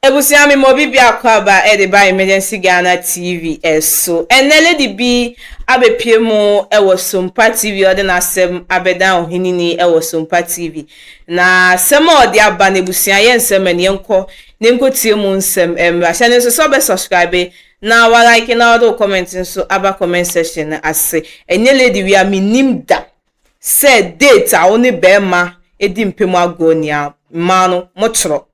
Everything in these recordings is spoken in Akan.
Abusua me ma obi biako aba de ba Emergency Ghana TV so ɛnnɛ lady bi abɛpue mu wɔ Sompa TV ɔde n'asɛm abɛdan ɔhenini wɔ Sompa TV na asɛm a ɔde aba no abusua yɛ nsɛm ɛne yɛnkɔ na yɛnkɔ tie mu nsɛm mmra hyɛ no nso sɛ ɔbɛ subscribe na wa like na ɔde wo comment nso aba comment section no ase ɛnyɛ lady wei a mennim da sɛ date a wo ne bɛɛma di mpɛ mu agorɔ ni a mmaa no mo twerɛ.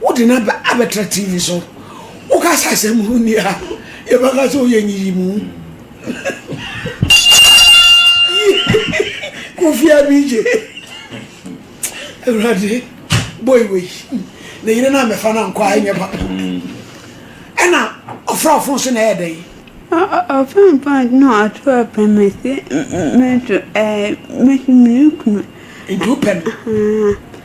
Wode no aba abɛtra TV so. Woka sɛ asɛm ho nni ha. Yɛbɛka sɛ woyɛ nyiyimu. Kofi Abigye. Awurade, boy wei. Ne yere no a mɛfa no ankɔ a ɛnyɛ papa. Ɛna ɔfra ɔfon so na ɛyɛ dɛn? Ɔfampa no ato apɛ me se meto ɛɛ mesi me kunu. Nti wopɛ no?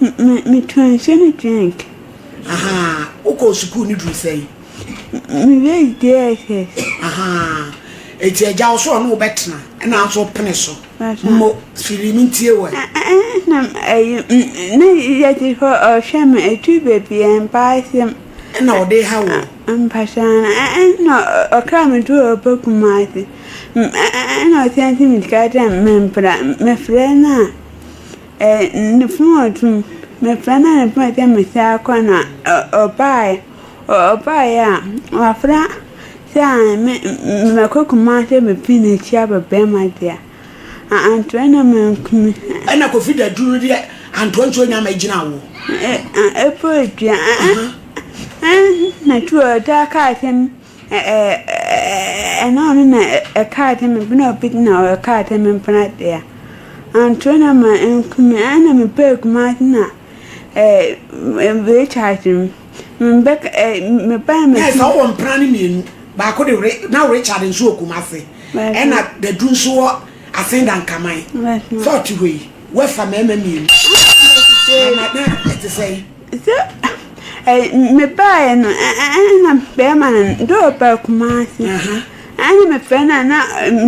Me me transgenic drink. Ahaa, wokɔɔ sukuu ne duru sɛn? Me base JSS. Ahaa, eti agya wo so ɔne wo bɛtena ɛna nso wopene so. Mo firi me ntie wɔ. Na ɛyi ne yɛte hɔ ɔhwɛ me ɛtu baabi ɛmpa asɛm. Ɛna ɔde ha wɔ. Mpataa na ɛna ɔkra me to ɔba kumase ɛna ɔsɛnti me sika dɛ mempra mefrɛ no a. Eh ne funu wɔ tum me frɛ na ne pɛ sɛ me saa kɔ na ɔbaaɛ ɔbaaɛ a wafra sɛ ae me mɛkɔ kumase bɛ pii na akyia bɛ bɛɛma deɛ a antoɛ na me nkumi eh. Ɛna kofi da duru no deɛ antoɛ nso nya mɛ gyina awoɔ. Eh eh ɛpo dua eh eh na tu ɔtaa kaa sɛm. Ɛna ɔno na ɛkaa dɛ me bena obi na ɔkaa dɛ me bena dea anto na ma nkumi ɛna me pɛ kuma na recharge mu mbɛ me ba me. Yes na ɔwɔ mpena ne mmienu baako de re na recharge nso wɔ Kumasi ɛna dadu nso wɔ Asinda Nkaman sɛ ɔte hɔ yi wɛfa mɛɛma mmienu na na ɛte sɛn. Sɛ mebaeɛ no na bɛrima no de ɔba Kumasi. Ɛna mefrɛ no a na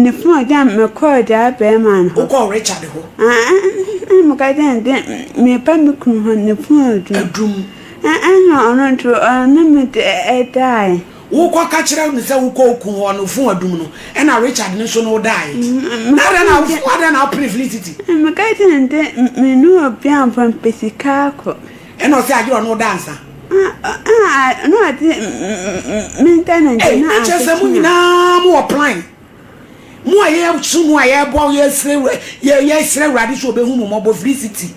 ne fon agya mekɔɔ daa bɛrima no hɔ. Wokɔɔ Richard hɔ? Ɛna meka kyerɛ no dɛ meba me kunu hɔ ne fon adum. Adum. Ɛna ɔno nso ɔne me daeɛ. Wokɔ ka kyerɛ no sɛ wokɔ oku hɔ no fon adum no ɛna Richard no nso no wodae na adɛn na adɛn na wopene Felicity. Meka kyerɛ no dɛ me ne obi amfa mpɛ sika akɔ. Ɛna ɔse agyerɛ ɔne wo da ansa. Aah na ɔde me internet no asekye a. Ɛkyerɛ sɛ mo nyinaa mo wɔ plan Mo a yɛresu mo a yɛrebɔ yɛresrɛ wura yɛ yɛresrɛ awurade sɛ ɔbɛhu mo mmɔbɔ firi city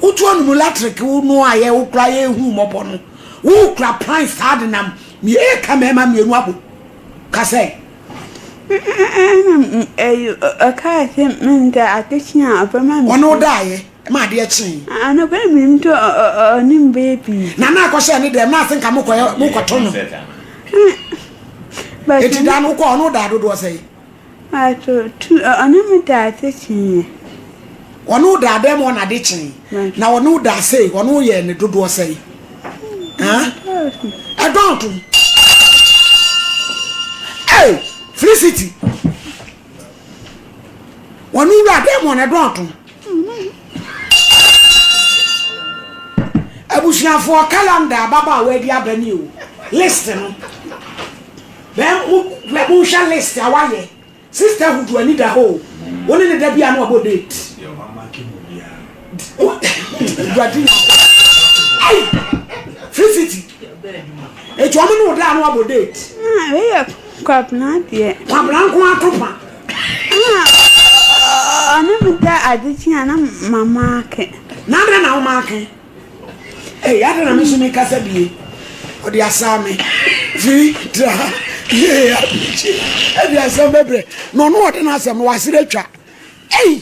wotu anum latrek wo no a yɛ wokora yɛrehu mmɔbɔ no wokura pan saa de nam mmiɛ ka mmarima mmienu abom ka sɛ Ɛna ɛyi ɔkaa sɛ menda adekye a ɔbɛma me ɔne wo daeɛ Ma adeɛ kyee. Anɔpa yi menim to ɔnim bɛyɛ pii. Na na akɔ hyɛ ne dɛm na ase nka mo kɔ mo kɔ to no. Eti daa no kɔ ɔno daa dodoɔ sɛ yi. Ato tu ɔne me daa ase kyee. Ɔno daa dɛm ɔna ade kyee. Na ɔno daa ase ɔno yɛ ne dodoɔ sɛ yi. Ɛdɔn to. Hey, Felicity. wɔn wura dɛ mu ɔne dɔn to abusuafoɔ calendar ababa a wɔadi aba ni o list no bɛn mo bɛ mo nhwɛ list a wayɛ sista hudu ani da hɔ o wɔn ne ne da bi a na wabɔ date dwadi na ayi free city. Eti ɔmo ne wo da a na wabɔ date. Ah, wei yɛ kwabena deɛ. Kwabena nko ato pa. Ah, ɔne me da ade kye a na ma maake. Na adɛn na wo maake? Ei, adɛn na me nso me kasa bie? Ɔde asaa me. Firi tra yee abirikyi. Ɛde asɛm bɛbrɛ. Na ɔno ɔde n'asɛm no wasere atwa. Ei!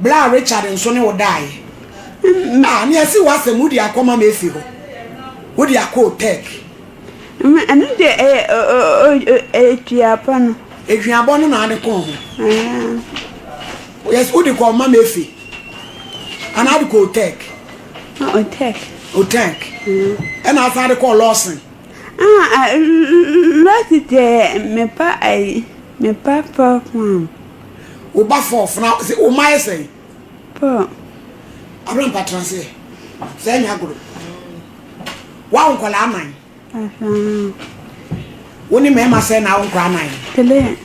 Bere a Richard nso ne wo dae no, a nea asi w'asɛm, wode akɔma me afi hɔ, wode akɔ Oteg. Ɛma ɛno deɛ ɛyɛ aduabɔ no. Aduabɔ no na ade kɔn ho. Yes, wode kɔɔ ma me afi. Ana ade kɔɔ Oteg. Oteg. Oteg. Ɛna asan ade kɔɔ Lawson. Ah, Lawson deɛ mepa ayi, mepa program. Wo ba fɔ ɔfena sɛ wo mma yɛ sɛn? Pɔ. Abena mpa tena seɛ. Sɛ ɛnyɛ agoro. Wawo nkɔla anan. Aha. Wo ne mmarima sɛ na awo nkɔla anan. Pele.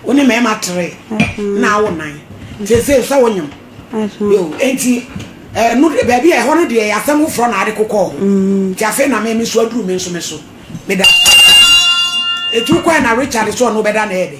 Wo ne mmarima tere. Aha. Na awo nan. Sɛ sɛ sɛ wo nyam. Aha. Yo enti ɛnu eh, baabi a ɛhɔ no deɛ asɛm foforɔ na ade kokɔ hɔ. Mm. Ti afei na mɛmi so aduru mi nso mi so. Meda. Etu kɔɛ na Richard so ɔno bɛda na ɛde.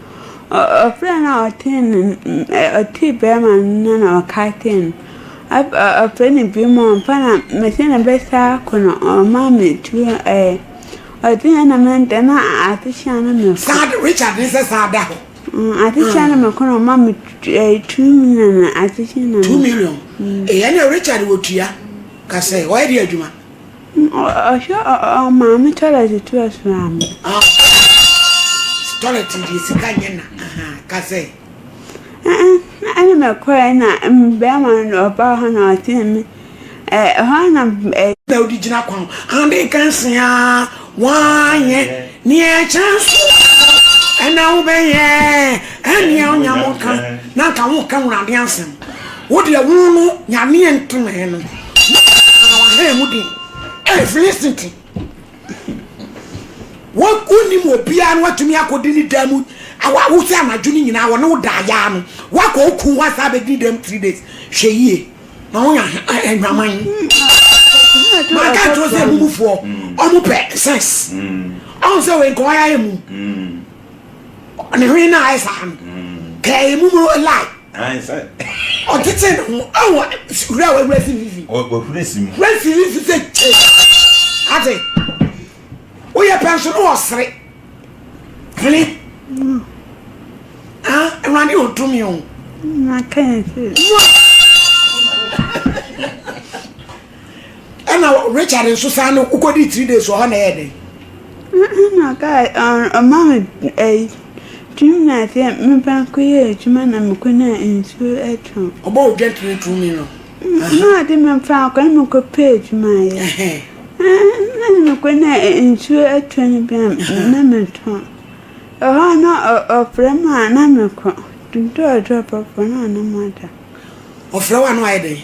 Ɔbra no a ɔtee no ɔtee bɛrima no na ɔka tee no ɔfrɛ no bi mu a ɔmfa na mese no bɛsa akɔ no ɔma me tuo ɛɛ ɔde yɛ na me ntɛ na ade hyia no me fo. Saa Richard ne sɛ saa da hɔ. Ade hyia no me kɔ na ɔma me two million na ade hyia na me. Two million. Ɛyɛ na Richard wɔ tua kasɛ ɔyɛ de adwuma. Ɔhwɛ maame tɔlɛt to asram mu. Tɔlɛt deɛ sika nyɛ na ahaa ka sɛ. Ɛna mɛkɔɛ na bɛrima no ɔbaa hɔ na ɔtee me ɛhɔ na. Na ɔde gyina kwan ho ade nkansia. Woanyɛ nea ɛkyɛn so ɛ na wobɛyɛ nea onyam ka na nka woka wurade asɛm wo deɛ wo no nyaneɛ ntomee no na wahaa mu den ei filistiti wo wonim obiara no watumi akɔdi ne dan mu awa wo sɛ anadwo no nyinaa wɔne wo da ayaa no woakɔ oku ho asaa bɛdi ne dan mu three days hwɛ yie na wɔn yɛ adwaman maka nkyɛn sɛ ɛmu mufoɔ ɔmo pɛ sex ɔmo sɛ wei nkɔwa yɛ mu ne hwene na ayɛ saa no kɛ ɛyɛ mu mu lai ɔtete ne ho ɛwɔ wura a wawura si vivi wura si vivi sɛ kye ate woyɛ pɛn so no wɔ sere Hene. Mm. Ah, Awurade wɔ tumi o. Na kan se. Ɛna Richard nso saa no wokɔdi three days wɔ hɔ na ɛyɛ dɛn? Na kaa ɔma me ɛyi tumi na sɛ meba nkɔyɛ adwuma na mekɔ na nsuo atɔ. Ɔbɔ wo dwɛntere two million. Na ɔde me mfa akɔ na mekɔpɛ adwuma yɛ. Nna mokɔ na nsuo atɔ no bi a na metɔ. Ɛhɔ a na ɔfrɛ me a na mekɔ. Dɔɔdɔɔ pɔpɔ na ɔne mo ada. Ɔfrɛ wo a na wayɛ dɛn?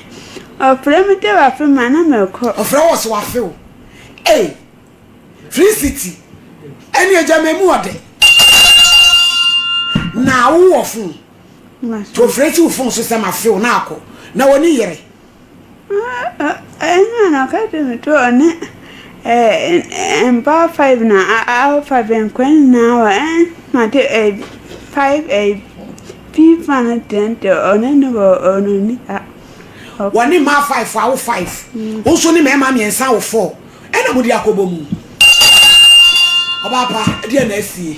Ɔfrɛ me dɛ wafe me a na mekɔ. Ɔfrɛ wo ɔse wafe wo. Ei! Free City ɛne agya ma emu ɔdɛ. Na wowɔ phone. Nti ɔfrɛ si wo phone so sɛ mafe wo na akɔ. Na w'ani yere. Nna na ɔkã dɛ mutuo ne mbaa five na aɔfa benkua nyina wɔ ma de five fifa no dɛn de ɔne no wɔ ononi a. Wɔne mmaa five awo five, wo nso ne mmarima mmiɛnsa awo four, ɛna mode akɔbɔ mu. Ɔbaa pa, ɛdeɛn na asie?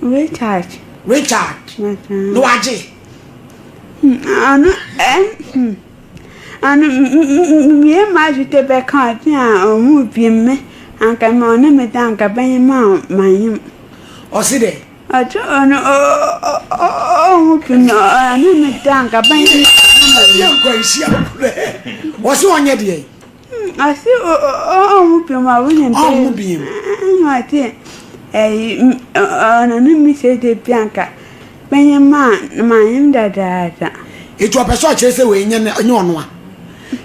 Richard. Richard. Mm-hmm. No agye. Hmm, ano ɛn eh, hmm. ano mmie ma adwete bɛka ɔte a ɔmo bie mme anka ma ɔne me da anka bɛnye ma ma nyem. Ɔsi dɛ. Ɔte ɔno ɔmo bie mme ɔne me da anka bɛnye ma ma nyem. Yɛ nkwanhyia kura. Ɔsi ɔnyɛ deɛ. Ase o o o ɔnwo pem a wo nim pem. Ɔnwo biem. Ɛna ate ɛyi ɔna no mi sɛ de bi anka bɛnyɛ maa na maa nyem dadaada. Eti ɔpɛ sɛ ɔkyerɛ sɛ wei nyɛ nyɛ ɔno a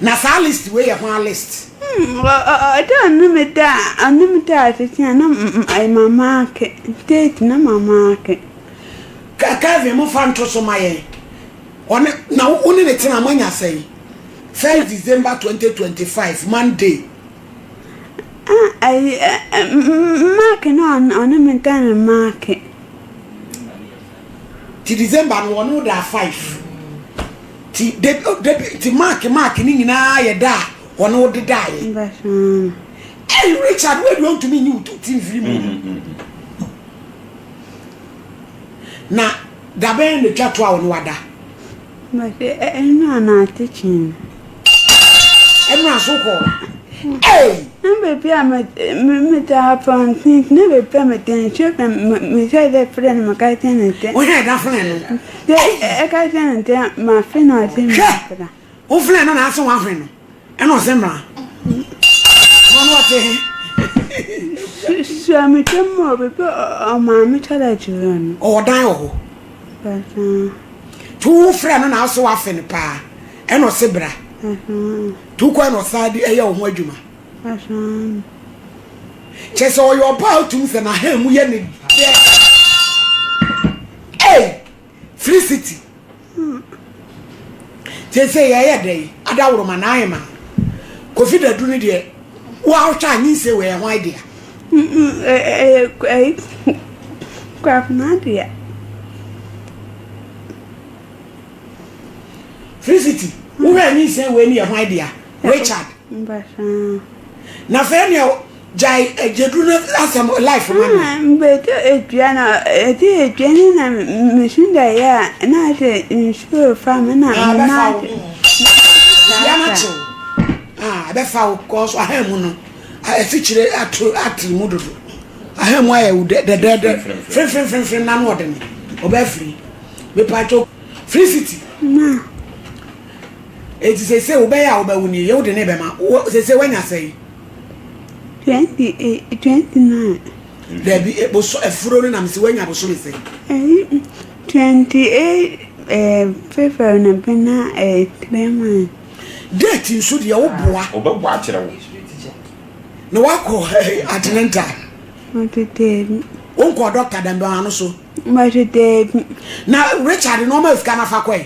na saa list wei yɛ hwaa list. Ɔda ɔno me da ɔno me da ase tia na ɛyɛ mama ake date na mama ake. Kevin mo fa nto so ma yɛn. Ɔne na wo ne ne tena moanya sɛn? First December twenty twenty five Monday. Ah, ayi, eh, eh, Mark na ɔne me nka ne Mark. Ti December no ɔno da five. Ti de de ti Mark Mark ne nyinaa yɛ da a ɔne wo de da yɛ. Ɛyi Richard wo aduo ntumi nyi wo ti mfiri mu. Na Da bɛn na twa to a wo ne wada? Mese ɛnura na atekyen no. Ɛnura so kɔ. Hey! Na baabi a metaa pɔnten na baabi a metɛn hwɛ na mehwɛ dɛ frɛ no meka kyerɛ no ntɛ. Wohwɛ ɛda frɛ no. Sɛ ɛka kyerɛ no ntɛ mafe no ase mefra. woflɛ no na ase wahwe no ɛna ɔsɛ mmra ɔno na ɔte he suametwa mu a bɛpɛ ɔmaame kyɛdɛ kyerɛ no ɔwɔ dan wɔ hɔ to wofrɛ no na ase wafe no paa ɛna ɔse bra to kɔ ɛna ɔsaa de ɛyɛ wo ho adwuma kyɛ sɛ ɔyɛ ɔba a wotum sɛ n'aha mu yɛ ne dɛ Free city. Sese yɛyɛ dɛ yi adaworoma na ayɛ ma kofi dadu no deɛ woahwɛ a nyinsɛ wɔ ɛho idea ɛyɛ kwafena deɛ Free city wohwɛ a nyinsɛ wɔ ɛni ɛho idea Richard na fɛ nea Gyae agyadu no asɛm life ma me. Ah, mebɛtɔ atua no, ɛtɔ atua no na mesu daeɛ a, na sɛ nsuo refa me na ah, mena ase. Dua no kyew. Ah, ɛbɛfa wo kɔɔ so ahan mu no. Afikyire ato atiri mu dodo. Ahan mu ayɛ wo dɛdɛɛdɛ. Frimfrimfrimfrim na no ɔde ne. Ɔbɛfiri. Mepakyɛ Felicity. Ma. Eti sese wobɛyɛ a wobɛwo nie, yɛ wode ne bɛma. Sese wanya sɛe. Twenty eight, eh, twenty nine. Dabi eboso eh, efuro no na mesi wanya abosom ese. Eh, twenty eight eh, February na bena eh, three months. Date nso deɛ wo boa. Ah, Ɔbɛboa akyerɛ wo. Na wakɔ eh, atenenta. Ɔtete. Wonkɔ dɔkta dɛmbɛn ano so. Ɔtete. Na Richard na ɔma sika na fa kɔe.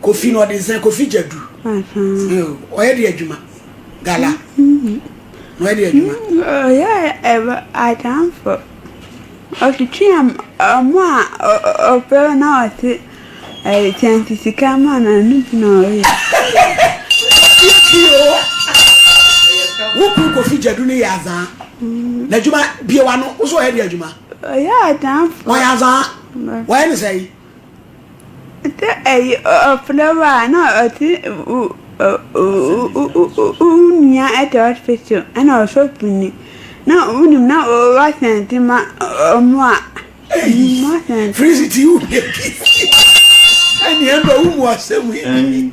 Kofi no ɔde nsa kofi gyadu ɔyɛ de adwuma gala na ɔyɛ de adwuma. Ɔyɛ ɛwɔ adanfo ɔtwitwi ɔmo a ɔpɛ na ɔte ɛyɛ kyɛnse sika ma na ne bi na ɔyɛ. Wo kun kofi gyadu ne yɛ azaa na adwuma bie wa no wosɔ ɔyɛ de adwuma. Ɔyɛ adanfo. Ɔyɛ azaa ɔyɛ ne sɛ yi. Sɛ ɛyɛ ɔfrɛ wo a na ɔse wo nua ɛte hospital ɛna ɔsɔfo ni na wonim na woasɛnde ma ɔmo a moasɛnde. Freeze ti wo hwɛ bi. Ɛneɛ ɛmma wo mu asɛm yi.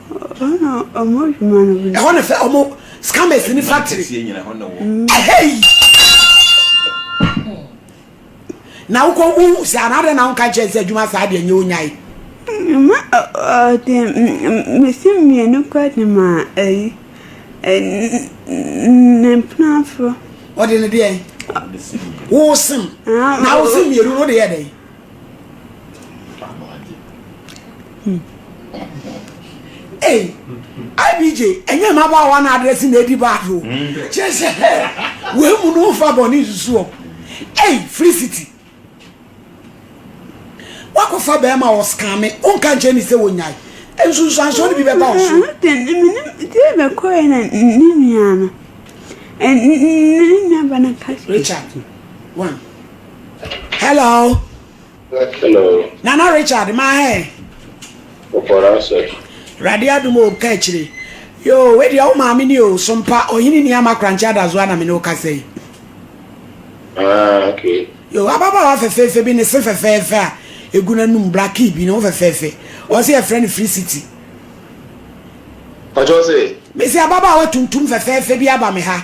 Ɛhɔ ne fɛ ɔmo scammers ni factory. Ɛhɛyi. Na wokɔ wohu sɛ anaadɛ na wonka nkyɛn sɛ adwuma saa deɛ nyɛ onyae. Ma ɔde mesi mmienu kɔ de ma ayi ne mpenafo. Ɔde ne deɛn? Wosim. Na wosim mmienu no wode yɛ dɛn? Hey, IBJ, ɛnyɛ mmabaawa na adrɛse na edi bad o. Kyerɛ sɛ wei mu no nfa bɔ ne nsusu o. Hey, Felicity, wakɔfa bɛrima wɔ skame, wonka nkyɛn ne sɛ wonyae. Nsunsuansoɔ no bi bɛba wo so. Bɛkɔɛ na ne nua no, ne nua ba no ka Richard, one. Hello. Hello. Nana Richard ma hɛ. Ɔbɔra sɛ. Awurade adum o ka akyire. Yo we deɛ wo maame ni o sompa ɔhene ni ama korankye adazoa na me ne wo kasa yi. Ah okay. Yo ababaawa fɛfɛɛfɛ bi ne se fɛfɛɛfɛ a egu n'anum blackie bi ne ho fɛfɛɛfɛ ɔse yɛfrɛ no free city. Ɔkyɛ ɔse. Mese ababaawa tuntum fɛfɛɛfɛ bi aba me ha.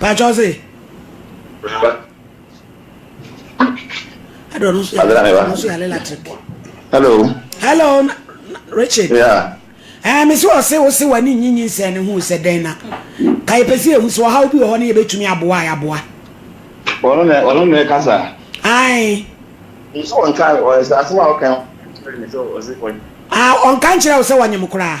pakyɛw se ɛdɔ no so yɛ electric hello hello richard yeah ɛɛ mesi ɔse wose w'ani nyi nyinsɛn ne ho sɛ dɛn na ka yɛpɛ sɛ yɛhu sɛ ɔhaw bi wɔ hɔ ne yɛbɛtumi aboa a yɛaboa ɔno na ɔno na ɛka saa ae nso ɔnka ɔsɛ asɛm a ɔka ɔnka nkyerɛ wo sɛ wɔnyem koraa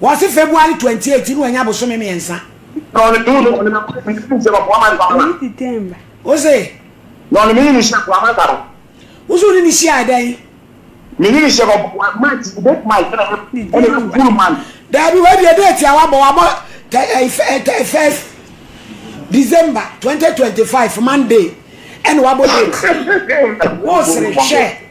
Wɔse February 28 na wanya bosome mmiɛnsa. Wose. Wose wone no hyiaɛ dɛn? Daabi wei deɛ date a wabɔ wabɔ first December 2025 Monday ɛna wabɔ date. Wosere hwɛ.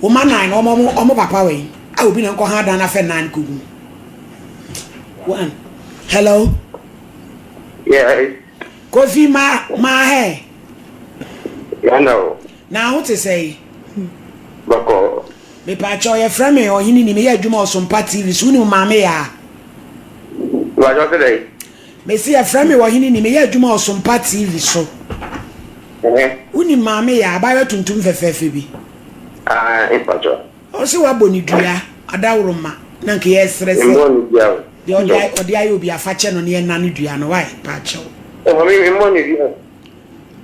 Wo mma nan no wɔn wɔn papa wɛn a obi na nkɔ ha dan afɛ nan kɔ gu. One. Hello. Yes. Kofi ma ma hɛ. Yana o. Na aho te sɛ yi. Bɔkɔ. Mepatwɔ yɛ frɛ me ɔhene ni meyɛ adwuma ɔsompa TV so wonim maame yaa. Mepatwɔ te dɛ. Mese yɛfrɛ me Ɔhene Ni, meyɛ adwuma wɔ Sompa TV so. Wonim maame yɛ a, abaayewa tuntum fɛfɛɛfɛ bi? Ae, mpakyɛw. Ɔse wabɔ ne dua, adaworoma, na nka yɛsrɛ sɛ. Memmɔɔ ne dua o. Deɛ ɔde ayɛ obiara, fa kyɛ no na yɛnnane dua no, wai, pakyɛw. Maame, memmɔɔ ne dua o.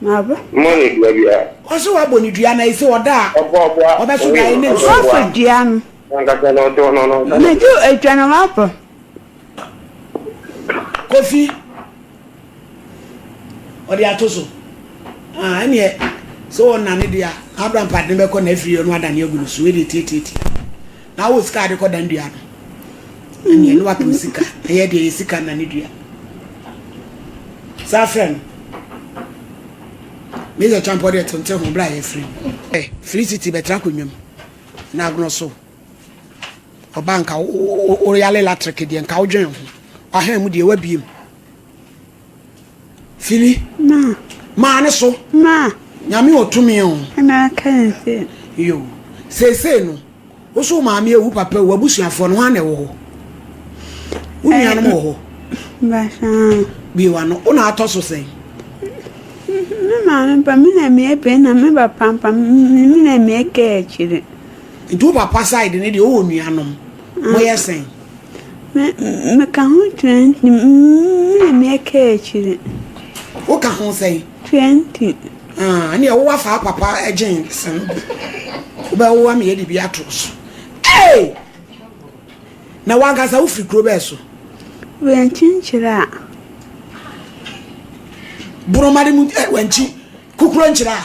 Maame. Memmɔɔ ne dua biara. Ɔse wabɔ ne dua, na ese ɔda a. Ɔbɔ ɔboa. Ɔbɛso daeɛ ne nsuo. Ɔbɔfo dua no. Nankasa na ɔtoo no, na ɔnka sɛ. Metu adwa na mabɔ. Kofi, ɔde ato so. Ah, ɛneɛ sɛ wɔnane deɛ a, abra mpade no bɛkɔ na afiri ɔno adane agu no so ɛdeɛ tiatiati. Na wɔ sika ade kɔdan dua no. Ɛneɛ ne wapem sika, ɛyɛ deɛ yɛ sika nane dua. Saa frɛ no. Mesa twampɔ deɛ tente ho bra yɛ firi. Eh, firi siti bɛtra konwam. Na agono so. Ɔba nka woyale latrek deɛ nka wodwen ho. Ɔhɛn mu deɛ wabie mu. Fili. Ma. Maa ne so. Ma. Nyame ɔtumi o. Ɛna aka yɛn sɛ. Yo. Seesei no, wo so maame ewu papa ewu abusuafoɔ no ho ana ɛwɔ hɔ? Wo nuanom wɔ hɔ? Basaa. Bie wa no, wo na atɔ so sɛn? Me maame ba, me na mmea bɛn na me ba pampa, me na mmea kɛ akyire. Nti wo papa side no deɛ ɔwɔ nuanom? Moyɛ sɛn? Meka ho twenty mmena me ɛka akyire. Woka ho sɛn? Twenty. Ah, ɛne ɛwowa saa papa ɛgyen sen no bi. Wobɛwowa me yɛde bi ato so. Hey! Na wankasa wofiri kuro bɛɛ so? Wɛnkyenkyerɛ a. Boromade mu wɛnkyi kukuro nkyerɛ a.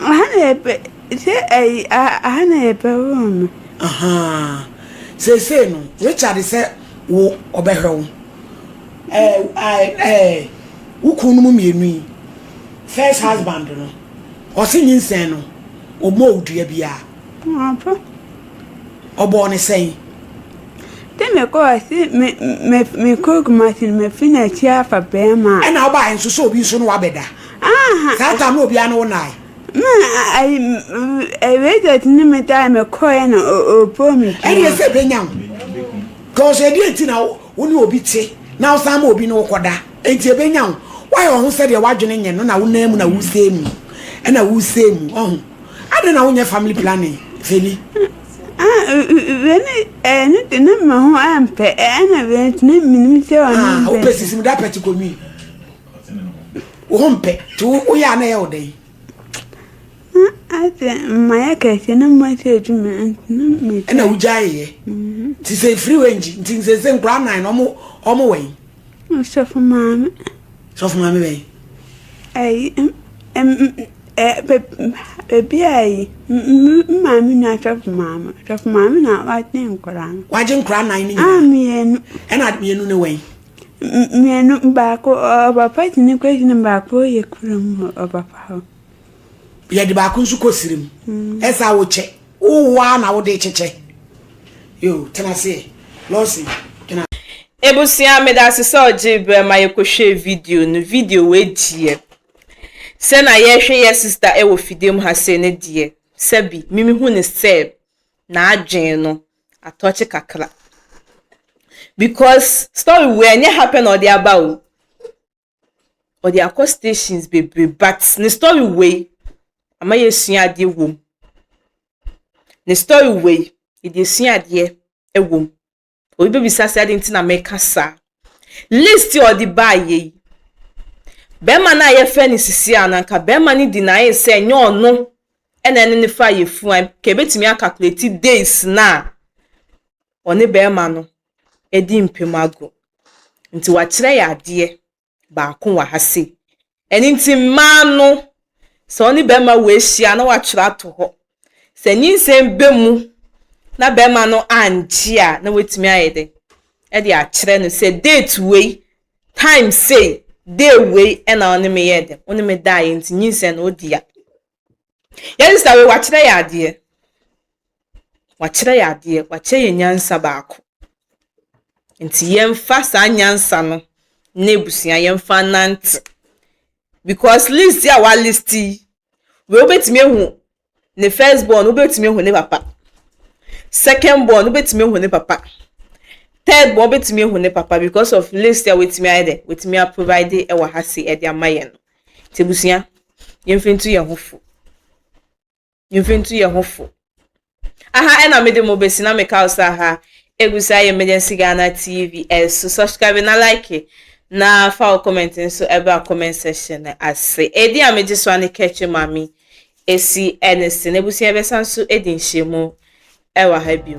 Aha na yɛpɛ sɛ ayi aha na yɛpɛ room no. Ahaa seesei no Richard sɛ wo ɔbɛhwɛ wo ɛɛ ɛɛ wo kun no mu mmienu yi first husband no ɔse nyinsɛn no ɔmmɔɔ wo dua biara. Ɔpo. Ɔbɔɔ no sɛn? Sɛ mekɔɔ se me me mekɔɔ Kumasi no mafi n'akyi afa bɛɛma a. Ɛna wobaeɛ nso sɛ obi nso ne wo abɛda. Saa tam no obiara ne wo nae. Me ayi Reject ne me tae me kɔɛ na ɔpoo me pii. Ɛne ɛsɛ bɛnya wo. Cause ɛdeɛ nti na wo ne obi te na wo san ma obi ne wo kɔda. Ɛnti ɛbɛnya wo. Wayɛ wo ho sɛ deɛ w'adwene nyɛ no na wo nan mu na wo sɛɛ mu. Ɛna wo sɛɛ mu. Wahu. Adɛn na wo nyɛ family planning Feli. Ah wei ne ɛɛ ne de ne me ho ampɛ ɛna wei nti ne menim sɛ ɔne mpɛ. Ah wopɛ sisi mu da pɛti kɔ nwi. wompɛ nti woyɛ a na ɛyɛ wo dɛn ate mmayɛ kɛseɛ na mmate adwuma ɛna wogyaeeɛ mhm. nti sɛ ɛfiri wɔ ngyi nti sɛ sɛ nkora nan no ɔmo wɔ yi sɔfo maame sɔfo maame bɛyi ayi baabi a yi maame nua sɔfo maame sɔfo maame na wagye nkora no wagye nkora nan no nyinaa mmienu ɛna mmienu no wɔ yi Mmienu, baako ɔbapa gyina kɔ gyina baako yɛ kura mu ɔbapa hɔ. Yɛde baako nso kɔ siri mu. Mm. Ɛsɛ a wokyɛ. Wowo a na wode kyekyɛ. Yo, tena ase. Lɔsi, tena. Ebusua meda ase sɛ ɔgye berɛ ma yɛkɔhwɛɛ video no. Video wei deɛ, sɛ na yɛhwɛ yɛ sista wɔ fidie mu ha sei no deɛ, sɛbi, memehu ne sɛ n'adwene no atɔkye kakra because story wei ɛnyɛ ha pɛ na ɔde aba o ɔde akɔ stations bebree but ne story wei ama yɛsua adeɛ wom ne story wei yɛde asua adeɛ wom obi bɛbisa sɛ ade nti na meka saa list a ɔde baa yɛ yi bɛrima no a yɛfrɛ no sisi a nanka bɛrima no di n'ayɛ sɛ ɛnyɛ ɔno Ɛna ɛne no fa yɛ fuaim ka ebetumi a calculate days no a ɔne bɛɛma no adi mpam agorɔ. Nti wakyerɛ yɛ adeɛ baako wɔ ha sei. Ɛno nti mmaa no sɛ ɔne bɛɛma wɔ ahyia a na watwerɛ ato hɔ. Sɛ nyinsɛn ba mu na bɛɛma no angye a na watumi ayɛ dɛ ɛde akyerɛ no sɛ date wei, time sei, day wei ɛna ɔne me yɛɛ dɛ, ɔne me daeɛ nti nyinsɛn no ɔde ya. Yɛn sista wei wakyerɛ yɛ adeɛ. Wakyerɛ yɛ adeɛ. Wakyerɛ yɛ nyansa baako. Nti yɛmfa saa nyansa no ne abusua yɛmfa nante. Because list a wa list yi, wei wobɛtumi ahu ne first born, wobɛtumi ahu ne papa. Second born, wobɛtumi ahu ne papa. Third born, wobɛtumi ahu ne papa because of list a wetumi ayɛ dɛ, wetumi aprovide ɛwɔ ha se ɛde ama yɛn no. Ntsi ebusua, yɛmfa ntu hɛnho fo. Yɛmfa ntu hɛnho fo. Aha na mede mo besi na meka wo sɛ aha egu so ayɛ Emergency Ghana TV ɛso subscribe na like na fa wo comment nso ɛbra comment section ase. Edin a megye so a ne Kɛkye Mame Esi ɛne se n'abusua bɛsan nso adi nhyiamu wɔ ha bio.